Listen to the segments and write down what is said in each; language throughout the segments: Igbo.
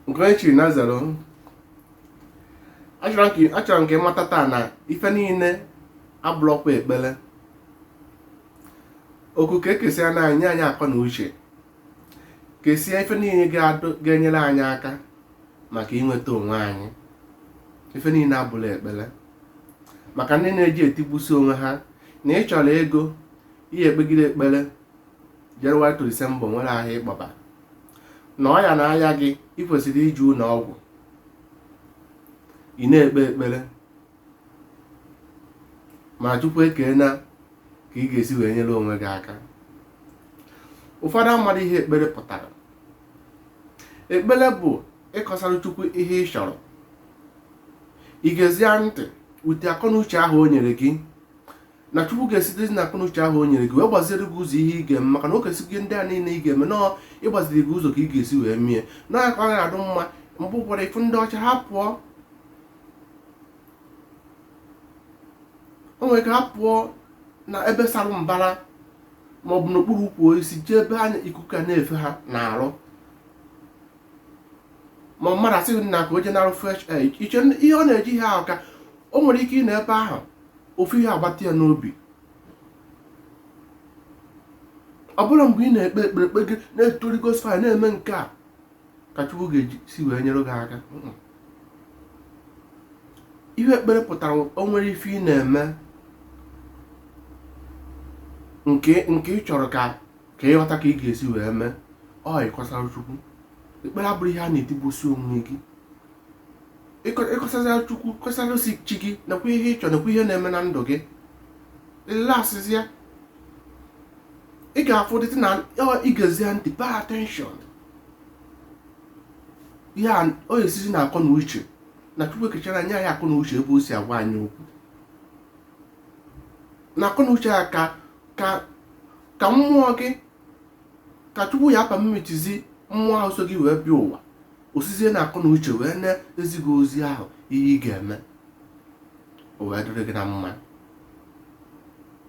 nke onye chiri na zero achọrọ m ka- achọrọ m ka ị mata taa na ife niile abụrọkwa ekpere oku ka ekesịa na anyị nye anyị akọ na uche kesịa ife niile ga-adụ- ga-enyere anyị aka maka inweta onwe anyị ife niile abụla ekpere maka ndị na-eji etigbusi onwe ha na ị chọrọ ego i kpegide ekpere January to December nwerọ ahịa ị kpọba na ọya na-aya gị ị kwesịrị ije ụlọ ọgwụ ị na-ekpe ekpere ma chukwu ekeena ka ị ga-esi wee nyere onwe gị aka ụfọdụ amaghị ihe ekpere pụtara ekpere bụ ịkọsara chukwu ihe ị chọrọ i gezie ntị ụdị akọnuche ahụ o nyere gị na chukwu ga-esitezi na akọnuche ahụ o nyere gị wee gbaziere gị ụzọ ihe ị ga-eme maka na o kesịrị gị ndị a niile ị ga-eme nọọ ịgbaziri gị ụzọ ka ị ga-esi wee mie na ka ọ na-adụ mma mgbe ụfọdụ ị fụ ndị ọcha ha pụọ o nwere ike ha apụọ na ebe sara mbara ma ọ bụ n'okpuru ukwu osisi jee ebe anya ikuku a na-efe ha n'arụ ma mmadụ asị gị na ka o jee nara fresh air iche ihe ọ na-eji ihe ahụ ka o nwere ike ị nọ ebe ahụ ofu ihe abata ya n'obi ọ bụrọ mgbe ị na-ekpe ekpere kpe gị na-etori gospel na-eme nke a ka Chukwu ga-esi wee nyere gị aka ihe ekpere pụtara o nwere ife ị na-eme nke nke ị chọrọ ka ka ị ghọta ka ị ga-esi wee mee ọ ịkọsara Chukwu ekpere abụrọ ihe a na-etigbusi onwe gị ị kọsazia chukwu kọsalụ sị chi gị nekwa ihe ị chọ nekwa ihe na-eme na ndụ gị ị relaxzịa ị ga-afụ dịtị na i gezia ntị pay attention ọ ya-esizi na akọ na uche na chukwu ekechara anyị nye anyị akọ na uche ebe o si agwa anyị okwu na akọ na uche ya ka ka ka mmụọ gị ka chukwu ya permitzi mmụọ ahụ so gị wee bịa ụwa o sizie na akọ na uche wee na-ezi gị ozi ahụ ihe ị ga-eme o wee dịrị gị na mma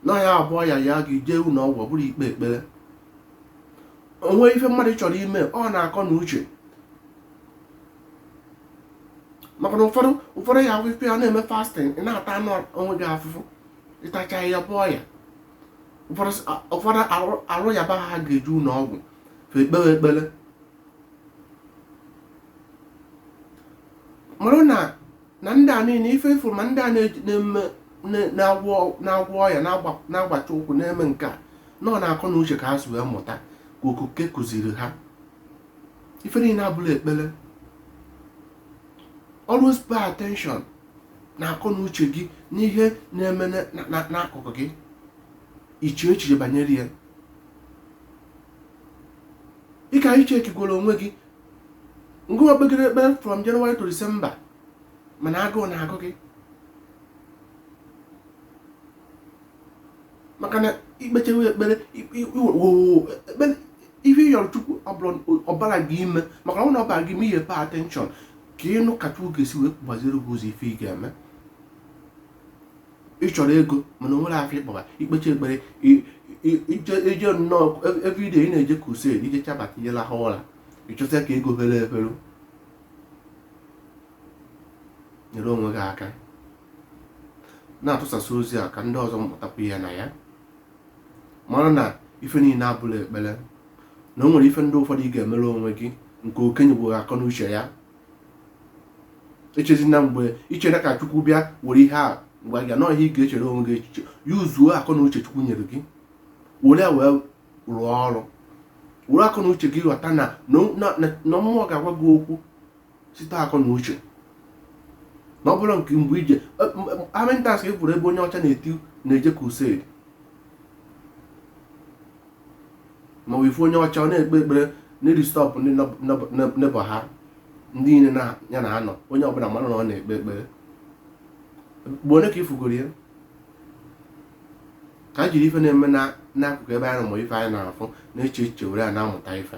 na ọya bụ ọya yaa gị jee ụlọ ọgwụ ọ bụrọ ikpe ekpere o nwee ife mmadụ chọrọ ime ọ na akọ na uche maka na ụfọdụ ụfọdụ ya ahụ ife ị na-eme fasting ị na-atanụ onwe gị afụfụ ị tachaa ya bụ ọya ụfọdụ arụ yaba ha ga-eje ụlọ ọgwụ fe ekpere ekpere mara na na ndị a niile ife ị fụrụ ma ndị a na-agwọ ọya na-agbacha ụkwụ na-eme nke a na ọ n'akọ na uche ka ha si wee mụta ka okike kụziri ha ife niile abụrọ ekpere always pay attention n'akọ na uche gị n'ihe na-eme n'akụkụ gị ị chee echiche banyere ya ị ka iche ekigwere onwe gị ngụwa kpegide ekpere from January to December mana agụụ na-agụ gị maka na i kpechaa ekpere ekpere ihe ị yọrọ chukwu ọ bara gị ime maka na ọ na ọ bara gị ime ihe pay attention ka ị nụ ka chukwu ga-esi wee gbaziere gị ụzọ ife ị ga-eme ị chọrọ ego mana o nwerọ afịa ị kpọba i kpechaa ekpere i je nọọ everyday ị na-eje crusade i jechaa bata i je lahụ ụra ị chọzị ka ego fere efe nyere onwe gị aka na-atụsasị ozi a ka ndị ọzọ mụtakwa ihe na ya mara na ife niile abụrọ ekpere na o nwere ife ndị ụfọdụ ị ga-emere onwe gị nke okenye bụ akọ na uche ya echezina mgbe i chere ka chukwu bịa were ihe a gwa gị nọọ ihe ị ga-echere onwe gị echiche yuzuo akọ na uche chukwu nyere gị were ya wee rụọ ọrụ were akọ na uche gị ghọta na na mmụọ ga-agwa gị okwu site akọ na uche na ọ bụrụ nke mgbe i je America ị fụrụ ebe onye ọcha na-eti na-eje crusade ma ị fụ onye ọcha ọ na-ekpe ekpere na-edisturb ndị neighbour ha ndị niile ya na ha nọ onye ọbụla mara na ọ na-ekpe ekpere mgbe one ka ị fụgoro ya ka a jiri ife na-eme n'akụkụ ebe anyị nọ ma ife anyị na-afụ na-eche echiche were ya na-amụta ife